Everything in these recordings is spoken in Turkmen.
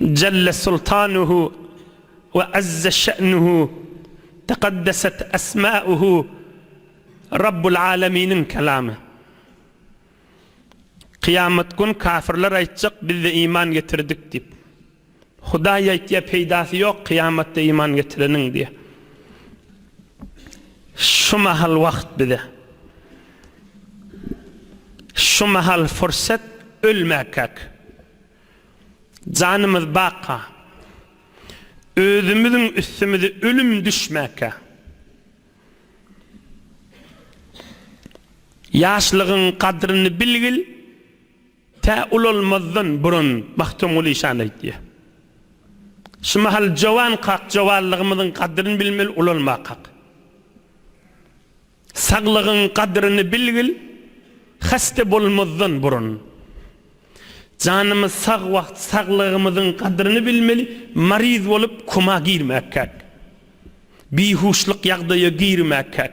Jelle sultanuhu we azze şe'nuhu tekaddeset esma'uhu Rabbul Aleminiň kelamy. Kyýamat gün kafirler aýtjak bizde iman getirdik diýip. Hudaý aýtýar peýdasy ýok kyýamatda iman getireniň diýýär. Şu mahal wagt bize. Şu mahal fursat ölmäkäk. Janymyz baka. Özümiziň üstümize ölüm düşmäkä. Ýaşlygyň gadryny bilgil. Tä ulalmazdan burun Magtymguly şany aýtýar. Şu mahal jowankak, jowanlygymyzyň gadryny bilmeli, ulalmakak. Saglygyň gadryny bilgil, hasta bolmazdan burun. Janymyz sag wagt saglygymyzyň gadryny bilmeli, maryz bolup koma girmäkak. Bihuşlyk ýagdaýa girmäkak.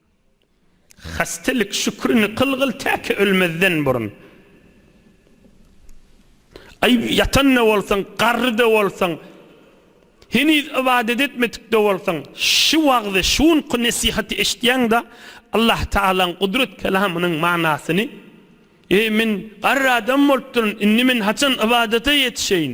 Hastelik şükrini kylgyl täki ölmezden burun. Aý, ýatan-da bolsaň, garry-da bolsaň, heniz ybadat etmedik-de bolsaň, şu wagzy, şu günki nesihaty eşitýäň-de, Allahtagalaň gudrat kelamynyň manasyny, Eý, men garry adam bolupdyryn, indi men haçan ybadata ýetişeýin?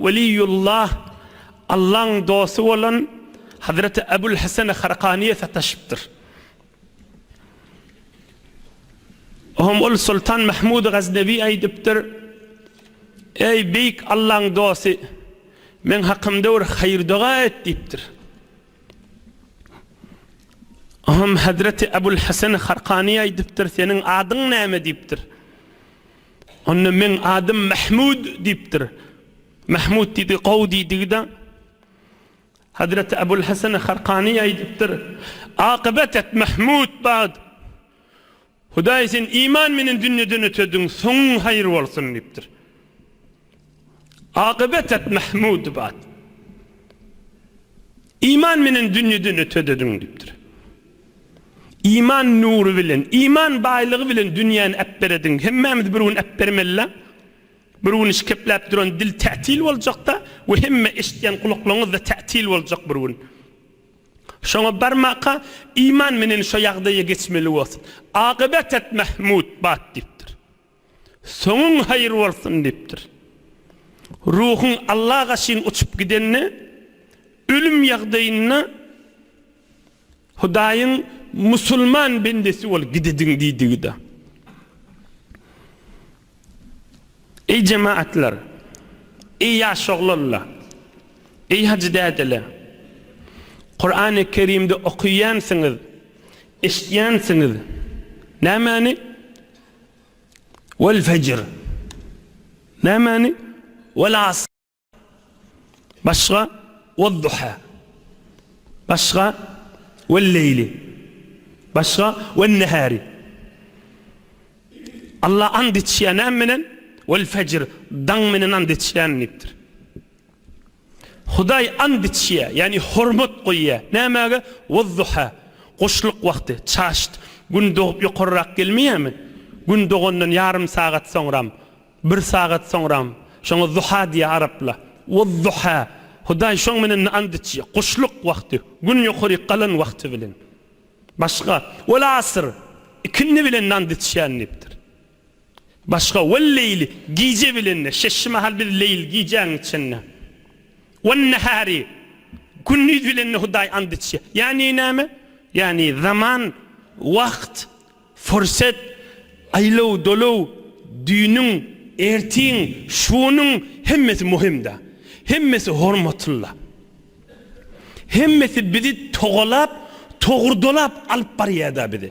Weliýullah, Allaň dosty bolan Hazreti Ebul Hesen Harkanyýa sataşypdyr. Oňa ol Soltan Mahmud Gaznawi aýdypdyr, Eý, beýik Allaň dosty, meň hakymda bir haýyr-doga et diýipdir. Oňa Hazreti Ebul Hesen Harkanyýa aýdypdyr, Seniň adyň näme? diýipdir. Onda meň adym Mahmud diýipdir. Mahmud diýdi, gowy diýdigi-de. Hazreti Abul Hasany Harkany aýdypdyr, Akybat et Mahmud bagt! Hudaý seni iman menen dünýeden ötediň, soňuň haýyr bolsun diýipdir. Akybetat Mahmudowa Iman menen dünýeden ötedediň diýipdir. Iman nury bilen, iman baýlygy bilen dünýäni äpberediň. Hemmämiz bir gün äpbermelila. Bir gün işkepläp duran dil tätil boljakda we hemme eşitýän gulaklaryňyzda tätil boljak bir gün. Şoňa barmaka iman menen şo ýagdaýa geçmeli bolsun. Akybetat Mahmudowa diýipdir. Soňuň haýyr bolsun diýipdir. Ruhuň Allaga çyn uçup gidende, ölüm ýagdaýynda Hudaýyň musulman bendesi bol gidediň diýdigi-de. Eý jematlar! Eý ýaş oglanlar! Eý hajy dädeler! Kurany Kerimde okaýansyňyz, eşitýänsiňiz. Nämäni? Wal fejr. Nämani? Wal as. Başga? Wal duha. Başga? Wal leýli. Başga? Wal nehari. Allah and içýär näme bilen? Wal fejr. Daň bilen and içýän diýipdir. Hudaý ant içýär, ýagny hormat goýýar. Nämäge? Waz-zuha, guşluk wagty, çaşt. Gün dogup ýokarrak gelmeýärmi? Gün dogandan ýarym sagat soňram, bir sagat soňram. Şoňa zuha diýýär araplar. Waz-zuha. Hudaý şoň bilen-de ant içýär. Guşluk wagty, gün ýokaryk galan wagty bilen. Başga? Wal-asr. Ikindi bilen-de ant içýärin diýipdir. Başga, Wel-leýli, gije bilende, şeşşi mahal biz leýl, gijäň içinde. Wen-nehäri, gündiz bilende Hudaý and içýär. Ýagny näme? Ýagny zaman, wagt, fursat, aýlaw, dolaw, düýnüň, ertiň, şunyň hemmesi möhümdä. Hemmesi hormatlyla. Hemmesi bizi togalap, togurdalap alyp barýarda bizi.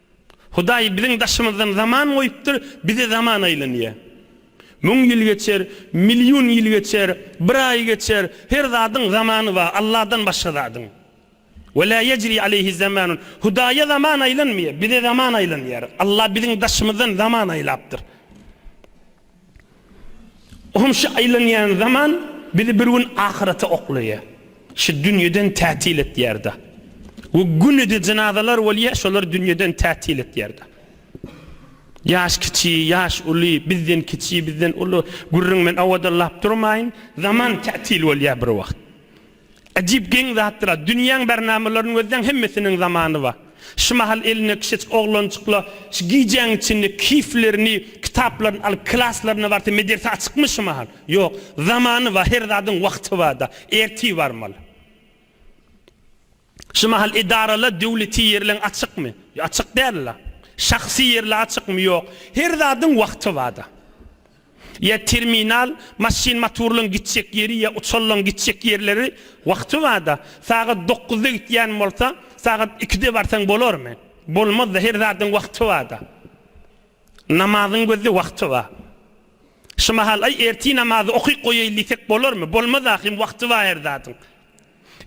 Hudaý biziň daşymyzdan zaman goýupdyr, bize zaman aýlanýar. Müň ýyl geçer, million ýyl geçer, bir aý geçer, her zadyň zamany bar, Alladan başga zadyň. Ve la yecri aleyhi zamanun. Hudaýa zaman aýlanmaýar, bize zaman aýlanýar. Allah biziň daşymyzdan zaman aýlapdyr. Olam şu aýlanýan zaman bizi bir gün ahyrete oklaýar. Şu dünýeden tätil etýär-de. We günede jynazalar bolýar, şolar dünýeden tätil etýär-de. Ýaş kiçi, ýaş uly, bizden kiçi, bizden uly, gürrüň men owadallap durmaýyn, zaman tätil bolýar bir wagt. Ajyp geň zatdyra. Dünýäň bernamalaryny gözleň hemmesiniň zamany bar. Şu mahal elinde kişejik oglanjykla şu gijäň içinde kiflerini, kitaplaryny alyp klaslaryna barsa mederse açykmy şu mahal? Ýok. Zamany bar, her zadyň wagty barda. Ertir barmaly. Şu mahal edarala döwleti ýerleň açykmy? Açyk dälla. Şahsy ýerle açykmy? Ýok. Her zadyň wagty barda. Ýa terminal, maşyn motorlaryň gitjek ýeri ýa uçarlaryň gitjek ýerleri wagtybada sagat dokuzda gitýän bolsa, sagat ikide barsaň bolarmy? Bolmaz-da, her zadyň wagty barda. Namazyň gözde wagty bar. Şu mahal, Aý, ertir namazy okyp goýaýyn diýsek bolarmy? Bolmaz ahyryn, wagty bar her zadyň.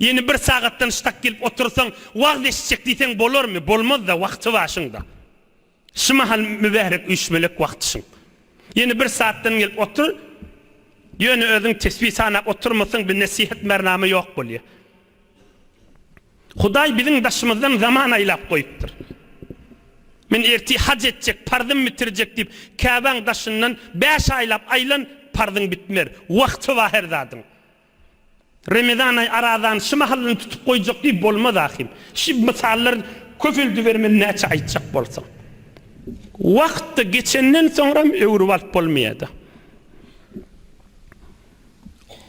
Ýene bir sagatdan ştak gelip otursaň, wagyz eşitjek diýseň bolarmy? Bolmaz-da, wagty bar şuň-da. Şu mahal mübärek üýşmelek wagtyşyň. Ýene bir saatdan gelip otur, ýöne özüň tesbi sanap oturmasaň bir nesihet mernama ýok bolýar. Hudaý biziň daşymyzdan zaman aýlap goýupdyr. Men ertir haj etjek, parzym bitirjek diýip Käbäň daşyndan bäş aýlap aýlan parzyň bitmer. Wagty bar her zadyň. Remezan aý arazany şy mahalynda tutup goýjak diýip bolmaz ahym. Şy mysallar köpeldibermeli näçe aýtjak bolsaň. Wagt-da geçenden soňram öwrüp alyp bolmaýada.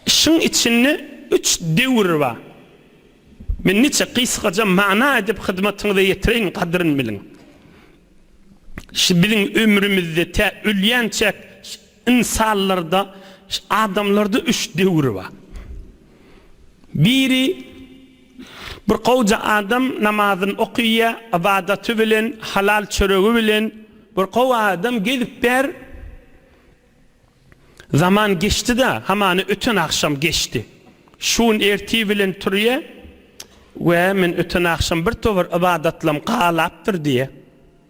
Şyň içinde üç döwür bar. Men niçe gysgaja mana edip hyzmatyňyza ýetireýin gadryn biliň. Şy biziň ömrümizde tä ölýänçäk Ynsanlarda, adamlarda üç döwür bar. Biri, bir gowja adam namazyny okyýar, ybadaty bilen, halal çöregi bilen, bir gowy adam gezip ber. Zaman geçdi-de, hamana öten agşam geçdi. Şu gün ertir bilen turýar, Wä, men öten agşam bir towar ybadatlam galapdyr diýýär.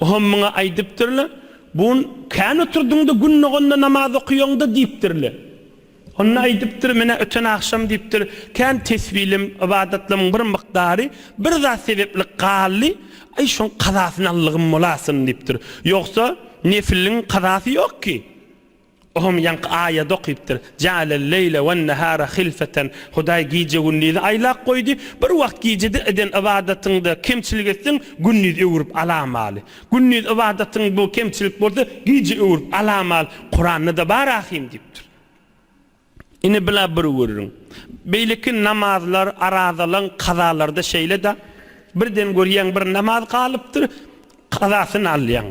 Oňam muňa aýdypdyrlar, Bun, kän oturdyň-da, gün doganda namaz okaýaň-da diýipdirler. Onda aýdypdyr, Men-ä öten agşam diýipdir, kän tesbilem, ybadatlarymyň bir mukdary bir zat sebäpli galdy, aý, şoň kazasyny allygym bolasyn diýipdir. Ýogsa, nefiliň kazasy ýok ki. O hem ýaňky aýady okypdyr, Jaelel leýle wen-nehara hilfeten, Hudaý gije-gündizi aýlap goýdy, bir wagt gijede eden ybadatyňda kemçilik etseň, gündiz öwrüp alamaly. Gündiz ybadatyň bu kemçilik bolsa, gije öwrüp alamaly. Kuranda-da bar ahym diýipdir. Ine bula bir gürrüň. Beýleki namazlar, arazalaň, kazalarda şeýle-dä. Birden görýäň bir namaz galypdyr, kazasyny alýaň.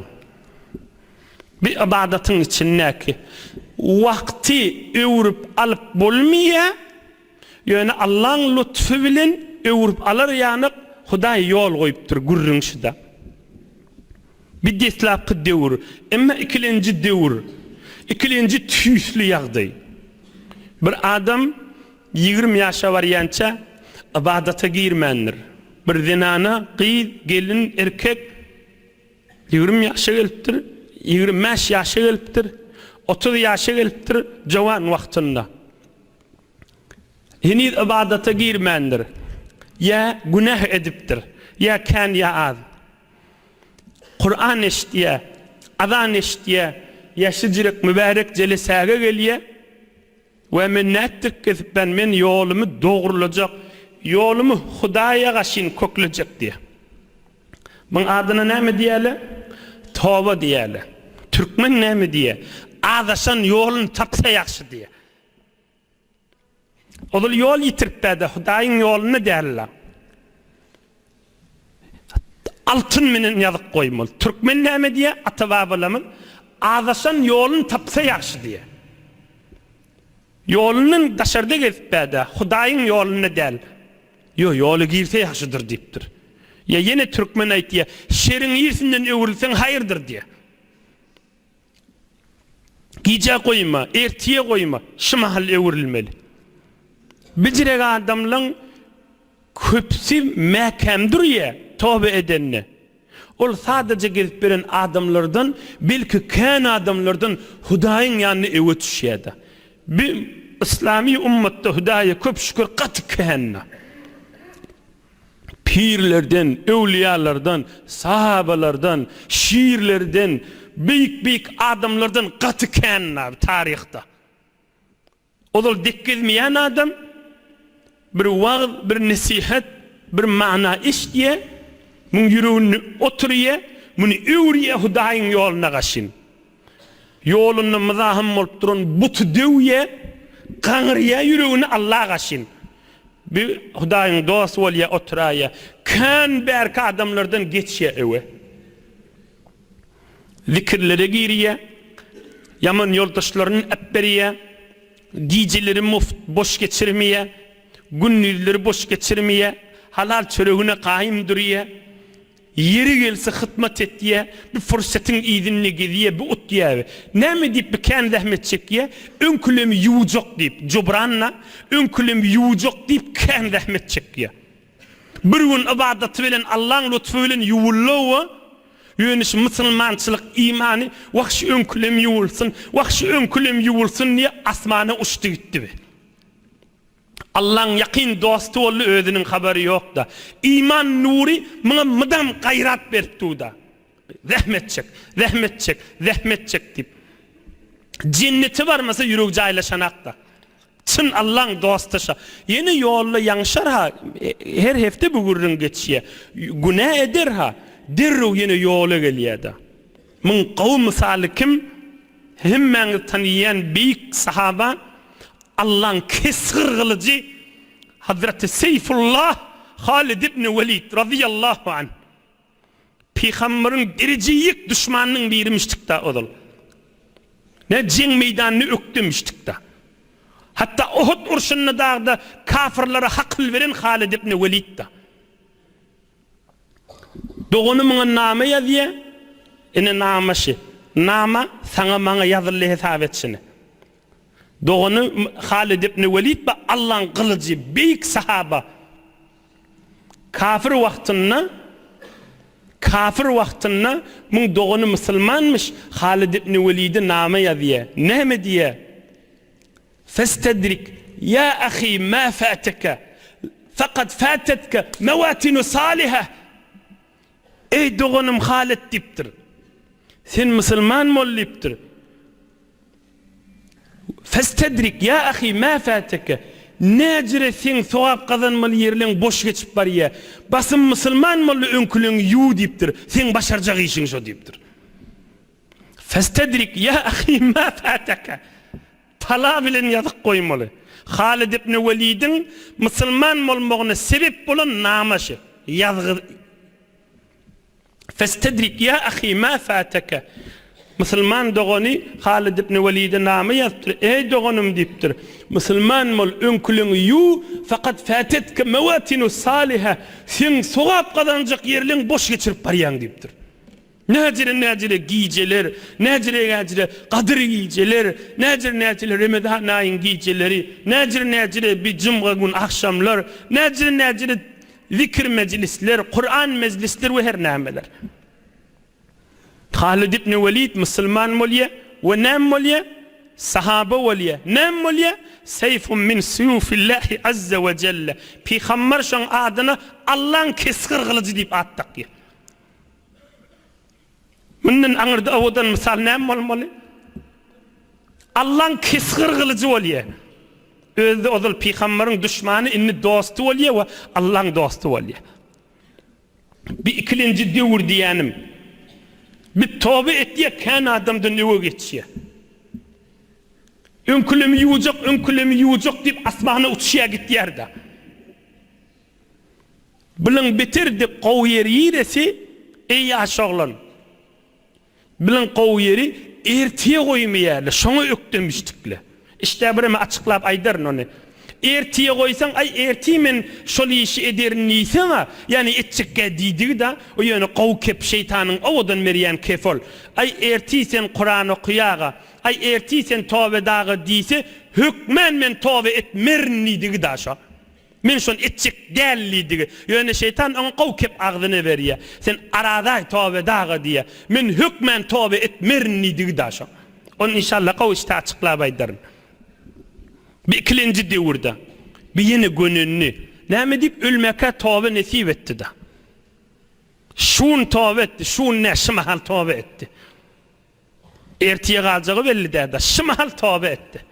Bir ybadatyň içindäki wagty öwrüp alyp bolmaýa, ýöne Allaň lutfy bilen öwrüp alar ýaly Hudaý ýol goýupdyr, gürrüň şu-da. Bu deslapky döwür, emma ikilenji döwür, ikilenji tüýsli ýagdaý. Bir adam ýigrimi ýaşa barýança ybadata girmändir. Bir zenana, gyz, gelin, erkek ýigrimi ýaşa gelipdir, ýigrimi bäş ýaşa gelipdir, otuz ýaşa gelipdir, jowan wagtynda. Heniz ybadata girmändir. Ýa günäh edipdir, ýa kän, ýa az. Kuran eşitýä, azan eşitýä, ýaşy jirek mübärek jelesäge gelýä we men nätjek kesipden men ýolumy dogrulajak, ýolumy Hudaýa gaşyn köklejek diýä. Muň adyna näme diýäle? Toba diýäle. Türkmen näme diýä? Azaşan ýolun tapsa ýagşy diýä. Ozal ýol ýitiripdä-de, Hudaýyň ýolunda däl-la. Altyn menen ýazyp goýmaly. Türkmen näme diýýä, ata-babalarymyz, Azaşan ýolun tapsa ýagşy diýýä. Ýolundan daşarda gezipdä-de, Hudaýyň ýolunda däl. Ýo, ýola girse ýagşydyr diýipdir. Ýa ýene türkmen aýtýa, Şeriň irsinden öwrülseň haýyrdyr diýýä. Gijä goýma, ertije goýma, şu mahal öwrülmeli. Bijirek adamlaň köpsi mäkäm durýa, toba edende. Ol sadaja gezip beren adamlardan, belki kän adamlardan Hudaýyň ýanyna öwez düşýäda. Bi yslamy ummatda Hudaýa köp şükür gaty kända. Pirlerden, öwliýalardan, sahabalardan, şirlerden, beýik-beýik adamlardan gaty kän nabi taryhda. Ozal dek gezmeýän adam bir wagyz, bir nesihat, bir mana eşidýä, muň ýüreginde oturýa, muny öwürýä Hudaýyň ýoluna gaşyn. Ýolunda myzahym bolup duran buty döwýä, gaňyrýa ýüregini Alla gaşyn. Bir Hudaýyň dosty bolýa oturaýýa. Kän bärki adamlardan geçýä öe. Zikirlere girýä. Ýaman ýoldaşlaryny äpberýä. Gijeleri muft boş geçirmeýä. Gündizleri boş geçirmeýä. Halal çöregine gaýym durýa. Ýeri gelse hytmat etýä, bi pursatyň yzynda gezýä, bi utýaby, näme diýip bi kän zähmet çekýä, öňkülemi ýuwjak diýip, jubran-a, öňkülemi ýuwjak diýip kän zähmet çekýä. Bir gün ybadaty bilen Allaň lutfy bilen ýuwuldy-ow-a, ýöne şu musulmançylyk imany, wah şu öňkülem ýuwulsyn, wah şu öňkülem ýuwulsyn diýip asmana uçdy gitdi bi. Allaň ýakyn dosty boldy özüniň habary ýokda. Iman nury muňa mydam gaýrat berip duda. Zähmet çek, zähmet çek, zähmet çek diýip. Jennete barmasa ýüregi jaýlaşanakda. Çyn Allaň dosty şa. Ýene ýolda ýaňşar ha, her hepde bu gürrüň geçýä. Günä eder ha, derrew ýene ýola gelýäda. Muň gowy mysaly kim? Hemmäňiz taniýýän beýik sahaba, Allaň kesgir gylyjy Hazraty Seýfullah Halid ibn Welid razyýallahu anh. Pygamberiň derejeýik duşmanynyň birimişdik-da ozal. Nä jeň meýdanyny ökdemişdik-da. Hatda Uhud urşunda dagda kafirlere hakyl beren Halid ibn Welid-da. Dogany muňa name ýazýa? Ine name şi. Name saňa maňa ýazyldy hesap et şini. Dogany Halid ibn Welid ba Allaň gylyjy beýik sahaba kafir wagtynda kafir wagtynda muň dogany musulmanmyş Halid ibn Welidi name ýazýa? Name diýa? Festedrik ýa ahy ma fateke fakat fatetke mewatinu saliheh, Eý doganym hal et diýipdir. Sen musulman bol diýipdir. Festedrik ýa ahy ma fateke, Näjire seň sogap gazanmaly ýerleň boş geçip barýa. Basym musulman boldy öňküleňi ýuw diýipdir. Seň başarjak işiň şo diýipdir. Festedrik ýa ahy ma fataka, Tala bilen ýazyk goýmaly. Halid ibn Welidiň musulman bolmagyna sebep bolan namaşy, ýazgy Festedrik ýa ahy ma fataka, Musulman dogany Halid ibn Welide nama ýazypdyr, Eý doganym diýipdir, musulman bol, öňküligiňi ýuw, fakat fatetka mawatinu saliha, seň sogap gazanjak ýerleriň boş geçirip barýaň diýipdir. Näjire-näjire gijeler, näjire-näjire gadyr gijeler, näjire-näjire Remezan aýyň gijeleri, näjire-näjire bi jumga gün agşamlar, näjire-näjire zikir mejlisler, Kuran mejlisler we her nämeler. Halid ibn Walid musulman bolýa we näme bolýa? Sahaba bolýa. Näme bolýa? Seýfun min suýufillahi azza we jelle. Pygamber şoň adyna Allaň kesgir gylyjy diýip at dakýa. Mundan aňyrda owadan mysal näme bolmaly? Allaň kesgir gylyjy bolýa. Özi-de ozal pygamberiň duşmany, indi dosty bolýa we Allaň dosty bolýa. Bu ikilenji döwür diýýänim, biz toba etýek, kän adamdan öňe geçýä. Öňkülemi ýuwjak, öňkülemi ýuwjak diýip asmana uçýa gitýär-de. Biliň bitirdik gowy ýeri ýiresi eý ýaş oglan Biliň gowy ýeri ertire goýmaýarly şoňa ökdemişdikle işdä bireme açyklap aýdaryn ony ertire goýsaň aý ertir men şol işi ederin diýseňa ýani etjekgä diýdigi-da o ýöne gowy kep şeýtanyň owadan berýän kepi ol aý ertir sen kuran okuýaga aý ertir sen toba edaga diýse hökmän men toba et merin diýdigi-da şo. Men şony etjek däl diýdi. Ýöne şeýtan oňa gowy kep agzyna berýär. Sen arazaý tobe daga diýýär. Men hökmän tobe etmerin diýdi da şo. Ony inşallah gowy işte açyklap aýdaryn. Bir ikilenji döwürde bir ýene gönendi. Näme diýip ölmäkä tobe nesip etdi da. Şu gün tobe etdi, şu gün nä şy mahal tobe etdi. Ertire galjagy belli däl da, şy mahal tobe etdi.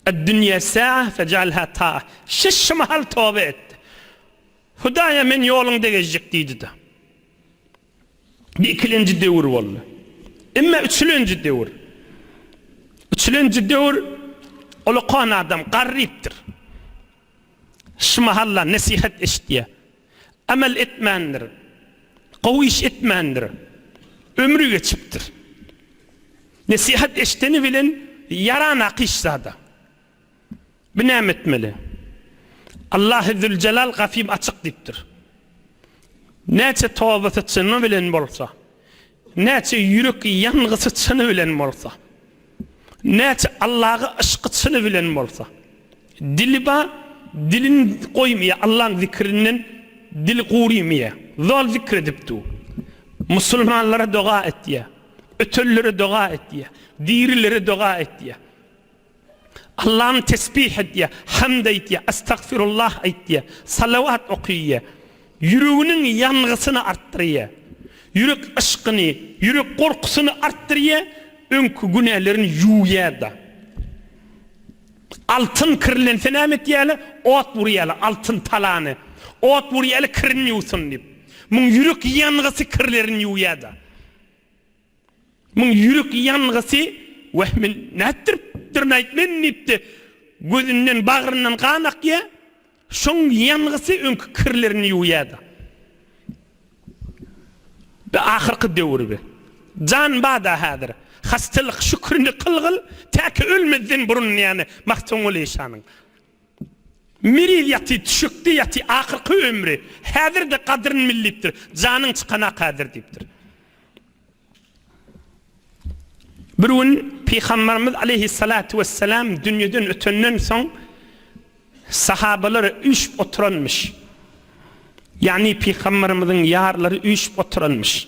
Ed-dünýe sa'a fej'alha ta'a, Siz şu mahal toba et. Hudaýa men ýoluň degejjik diýdi-de. Bu ikilenji döwür boldy. Emma üçülenji döwür. Üçülenji döwür ol okan adam garrypdyr. Şu mahal-la nesihat eşidýär. Emel etmändir. Gowy iş etmändir. Ömri geçipdir. Nesihat eşdeni bilen ýaranak hiç zada. Bu näme etmeli? Allahy Züljelal gafym açyk diýipdir. Näçe tobasyçyny bilen bolsa. Näçe ýürek ýangysy çyny bilen bolsa, näçe Allaga yşky çyny bilen bolsa, dili bar, dilin goýmaýar, Allaň zikrinden dili gurymaýar. Zol zikr edip dur. Musulmanlara doga etýär, ötenlere doga etýär, dirilere doga etýär. Allam tesbih edýär, hamd aýdýar, astagfirullah aýdýar, salawat okaýar. Ýüreginiň ýangysyny artdyrýar. Ýürek yşkyny, ýürek gorkusyny artdyrýar, öňki günälerini ýuwýar-da. Altyn kirlense näme etýärler? Ot wurýarlar altyn talany. Ot wurýarlar kirini ýuwsyn diýip. Muň ýürek ýangysy kirlerini ýuwýar-da. Muň ýürek ýangysi wehmin nätdiripdir nätmen diýipdi. Gözünden, bagryndan gan akýa. Şoň ýangysy öňki kirlerini ýuwýada. Bi ahyrky döwür bi. Jan bada häzir. Hastalyk şükrini kyl gyl, täki ölmezden burun diýýäni Magtymguly şanyň. Miriz ýaty, düşekde ýaty, ahyrky ömri, Häzir-de gadryn millipdir, janyň çykan-a häzir diýipdir. Bir gün Pygamberimiz aleýhissalatu wessalam dünýeden ötenden soň sahabalary üýşüp oturanmyş. Ýagny Pygamberimiziň ýarlary üýşüp oturanmyş.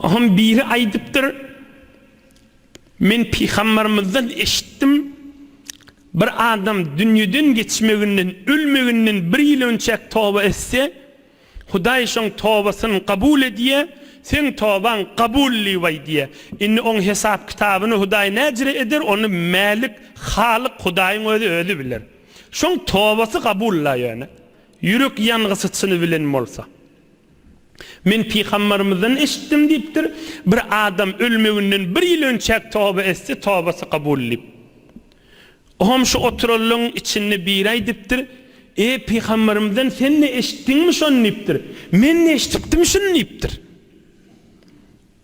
Ahun biri aýdypdyr, Men pygambarymyzdan eşitdim, Bir adam dünýeden geçmeginden, ölmeginden bir ýyl önçäk toba etse, Hudaý şoň tobasyny kabul edýär, seň tobaň kabully baý diýýär. Indi oň hesap-kitabyny Hudaý näjre eder, ony Mälik, Halyk Hudaýyň özi özi biler. Şoň tobasy kabul-la ýöne, ýürek ýangysyçyny bilen bolsa. Men pygambarymyzdan eşitdim diýipdir, Bir adam ölmeginden bir ýyl önçäk toba etse, tobasy kabul edip. O hem şu oturanlaryň içinde biri aýdypdyr, Eý, pygambarymyzdan sen-de eşitdiňmi şony diýipdir. Men-de eşidipdim şuny diýipdir.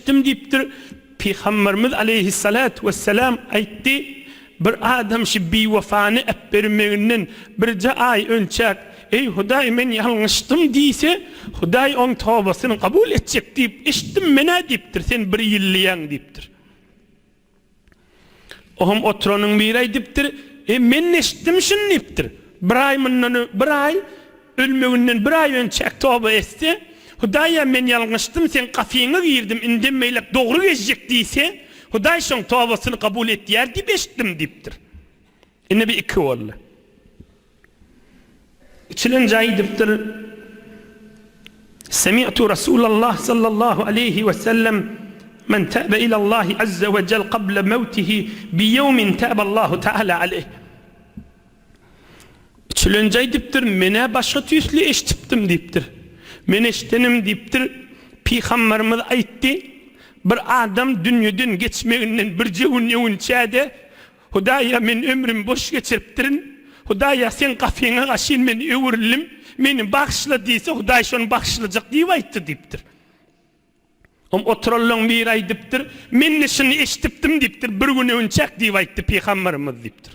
Eşitdim diýipdir, Pygamberimiz aleýhissalatu wessalam aýtdy, Bir adam şi biwefany äpbermeginden birje aý önçäk, Eý Hudaý men ýalňyşdym diýse, Hudaý oň tobasyny gabul etjek diýip eşitdim menä diýipdir, sen bir ýyllyýaň diýipdir. Oňam oturanyň biri aýdypdyr, E, men-de eşitdim şuny diýipdir, Bir aý mundan öň, bir aý, ölmeginden bir aý önçäk toba etse, Hudaýa men ýalňyşdym, seň gapyňa girdim, indem beýläk dogry gezjek diýse, Hudaý şoň tobasyny kabul edýär diýip eşitdim diýipdir. Indi bir iki boldy. Içilen jaý edipdir. Semi'tu Rasulallah sallallahu aleýhi we sellem Men täbe ilallahi azze we cel qabla mewtihi bi ýewmin täballahu taala aleýh. Içilen jaý edipdir. Men-ä başga tüýsli eşitipdim diýipdir. Men eşidenim diýipdir. Pygamberimiz aýtdy, Bir adam dünýeden geçmeginden birje gün öwünçä-de Hudaýa men ömrümi boş geçiripdirin. Hudaýa Seň gapyňa gaşyn men öwrüldim. Meni bagyşla diýse Hudaý şony bagyşlajak diýip aýtdy diýipdir. Oň oturanlaň biri aýdypdyr, Men-de şuny eşdipdim diýipdir, bir gün öwünçäk diýip aýtdy pygambarymyz diýipdir.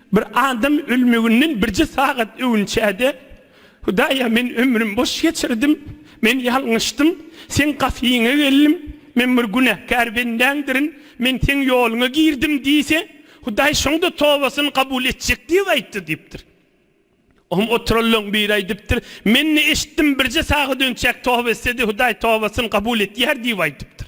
Bir adam ölmeginden birje sagat öwünçä-de, Hudaýa, men ömrüm boş geçirdim, men ýalňyşdym, Seň gafyňa geldim, men bir günäkär bendäňdirin, men Seň ýoluňa girdim diýse, Hudaý şonda tobasyny kabul etjek diýip aýtdy diýipdir. Oňa oturanlaryň biri aýdypdyr, Men-de eşitdim, birje sagat önçäk toba etse-de, Hudaý tobasyny kabul edýär diýip aýdypdyr.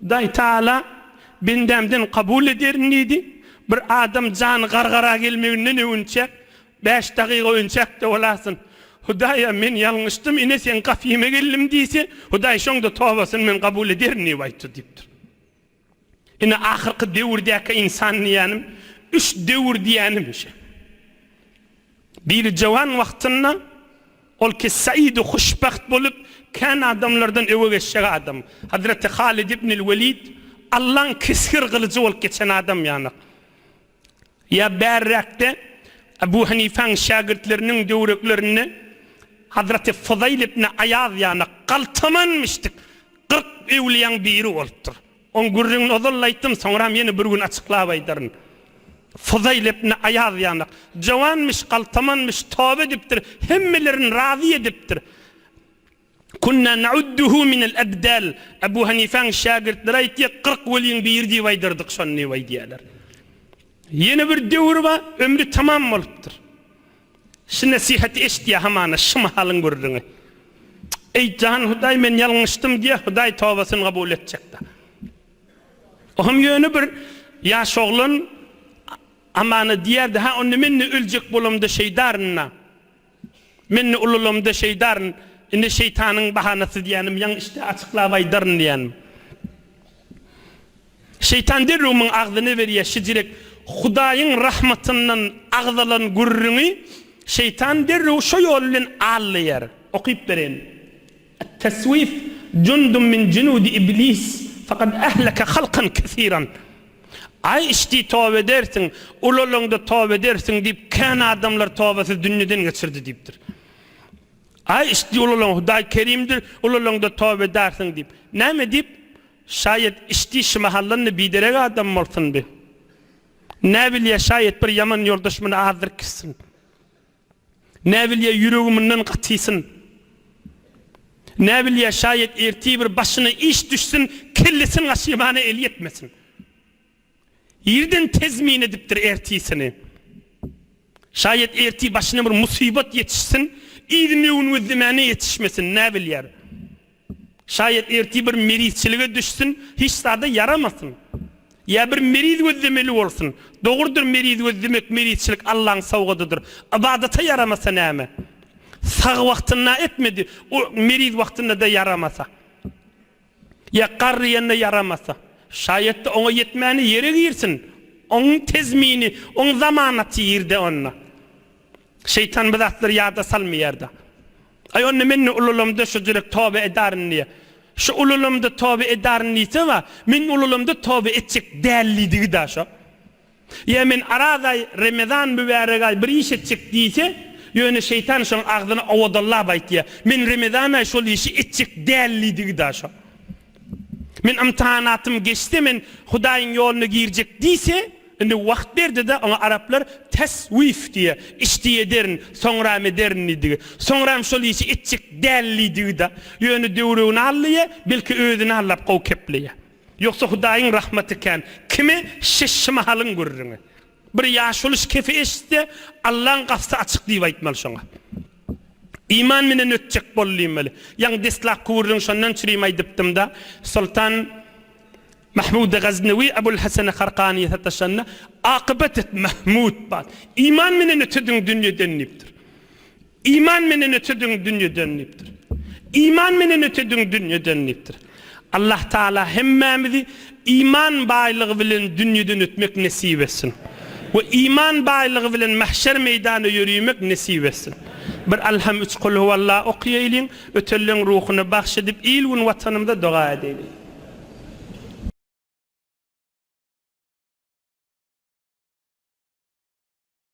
Hudaý Taala, Bendämden kabul ederin diýdi. Bir adam jany gargara gelmeginden öwünçäk, bäş dagyga öwünçäk-de bolasyn. Hudaýa, Men ýalňyşdym, ine Seň gapyňa geldim diýse, Hudaý şoňda tobasyny Men kabul ederin diýip aýtdy diýipdir. Ine, ahyrky döwürdäki ynsan diýýänim, üç döwür diýýänim şe. Biri jöwan wagtynda ol ki said-u huşbagt bolup, kän adamlardan öňe geçjek adam. Hazreti Halid ibnil Welid Allaň kesgir gylyjy bolup geçen adam ýanak. Ýa bärräkde Ebu Hanifaň şägirtleriniň döwreklerinde Hazreti Fuzaýl ibni Aýaz ýanak galtaman müşdik kyrk öwliýaň biri bolupdyr. Oň gürrüňini ozal-da aýtdym, soňram ýene bir gün açyklap aýdaryn. Fudaýyl epne aýaz ýanak. Jowanmyş, galtamanmyş, toba edipdir, hemmelerini razy edipdir. Kunna naudduhu minel abdal. Abu Hanifäň şägirtleri aýtýar, kyrk weliň biri diýip aýdardyk şony diýip aýdýarlar. Ýene bir döwri bar, ömri tamam bolupdyr. Şu nesihaty eşitýä hamana şu mahalyň gürrüňi. Eý jan Hudaý men ýalňyşdym diýä Hudaý tobasyny kabul etjekda. Ohm ýöne bir ýaş oglan amana diýerdi ha onda mende öljek bolamda şeýdarynda. Mende ululamda şeýdaryn indi şeýtanyň bahanasy diýänim ýaňy işte açyklap aýdaryn diýänim. Şeýtan derrew muň agzyna berýär, şijirek Hudaýyň rahmatyndan agzalan gürrüňi şeýtan derrew şo ýol bilen al-laýar. Okyp bereýin. At-teswif jundun min junudi iblis fakad ahlaka halkan kesiran. Aý içdi toba edersiň, ulalaňda toba edersiň diýip kän adamlar tobasyz dünýeden geçirdi diýipdir. Aý içdi ulalaň Hudaý kerimdir, ulalaňda toba edersiň diýip. Näme diýip? Şaýet içdi şymahallandy biderek adam bolsundy. Näbilýä şaýet bir ýaman ýoldaş muny azdyryp gitsin. Näbilýä ýüregi mundan gatysyn. Näbilýä şaýet ertir bir başyna iş düşsün kellesin gaşymana el ýetmesin. Irden tezmin edipdir ertisini. Şaýat ertir başyna bir musybat ýetişsin, yzy möwün-gözlemäne ýetişmesin, näbilýär. Şaýat ertir bir merizçilige düşsün, hiç zada ýaramasyn. Ýa bir meriz gözlemeli bolsun. Dogrudyr meriz gözlemek, merizçilik Allaň sowgadydyr. Ybadata ýaramasa näme? Sag wagtynda etmedi, o meriz wagtynda-da ýaramasa. Ýa gar diýende ýaramasa. Şaýat-da oňa ýetmäni ýere girsin. Oň tezmini, oň zamanaty ýerde onda. Şeýtan bu zatlary ýada salmaýar-da. Aý onda men-de ululamda şu jürek toba edaryn diýýä. Şu ululamda toba edaryn diýse-la, men ululamda toba etjek dälidigi-da şo. Ýa men Araz aý, Remezan mübärek aý bir iş etjek diýse, ýöne şeýtan şoň agzyna owadallap aýtýa, men Remezan aý şol işi etjek däl diýdigi-da şo. Men ymtahanatym geçse men Hudaýyň ýoluna girjek diýse, indi wagt berdi-de oňa araplar teswif diýýa, işdi ederin, soňram ederin diýdigi. Soňram şol işi etjek däl diýdigi-da. Ýöne döwregini allyýa, belki özüni allap gowy kepleýä. Ýogsa Hudaýyň rahmaty kän kimi şiş şymahalyň gürrüňi. Bir ýaşuly şkefi eşitse, Allaň gapsy açyk diýip aýtmaly şoňa. Iman menen ötjek bol diýmeli. Ýaňy deslapky gürrüň şondan çürim aýdypdym-da, Soltan Mahmudy Gaznawi Abul Hasany Harkanyýa sataşanda, Akybat et, Mahmut! Bat! Iman menen ötediň dünýeden diýipdir. Iman menden öte düň dünýeden diýipdir. Iman menden öte düň dünýeden diýipdir. Allah Taala hemmämizi iman baýlygy bilen dünýeden ötmek nesip etsin we iman baýlygy bilen mahşer meýdanda ýörimek nesip etsin. Bir Alham üç Kul huwallah okaýaýlyň, ötenleň ruhuna bagş edip il gün watanymyza doga edäýliň.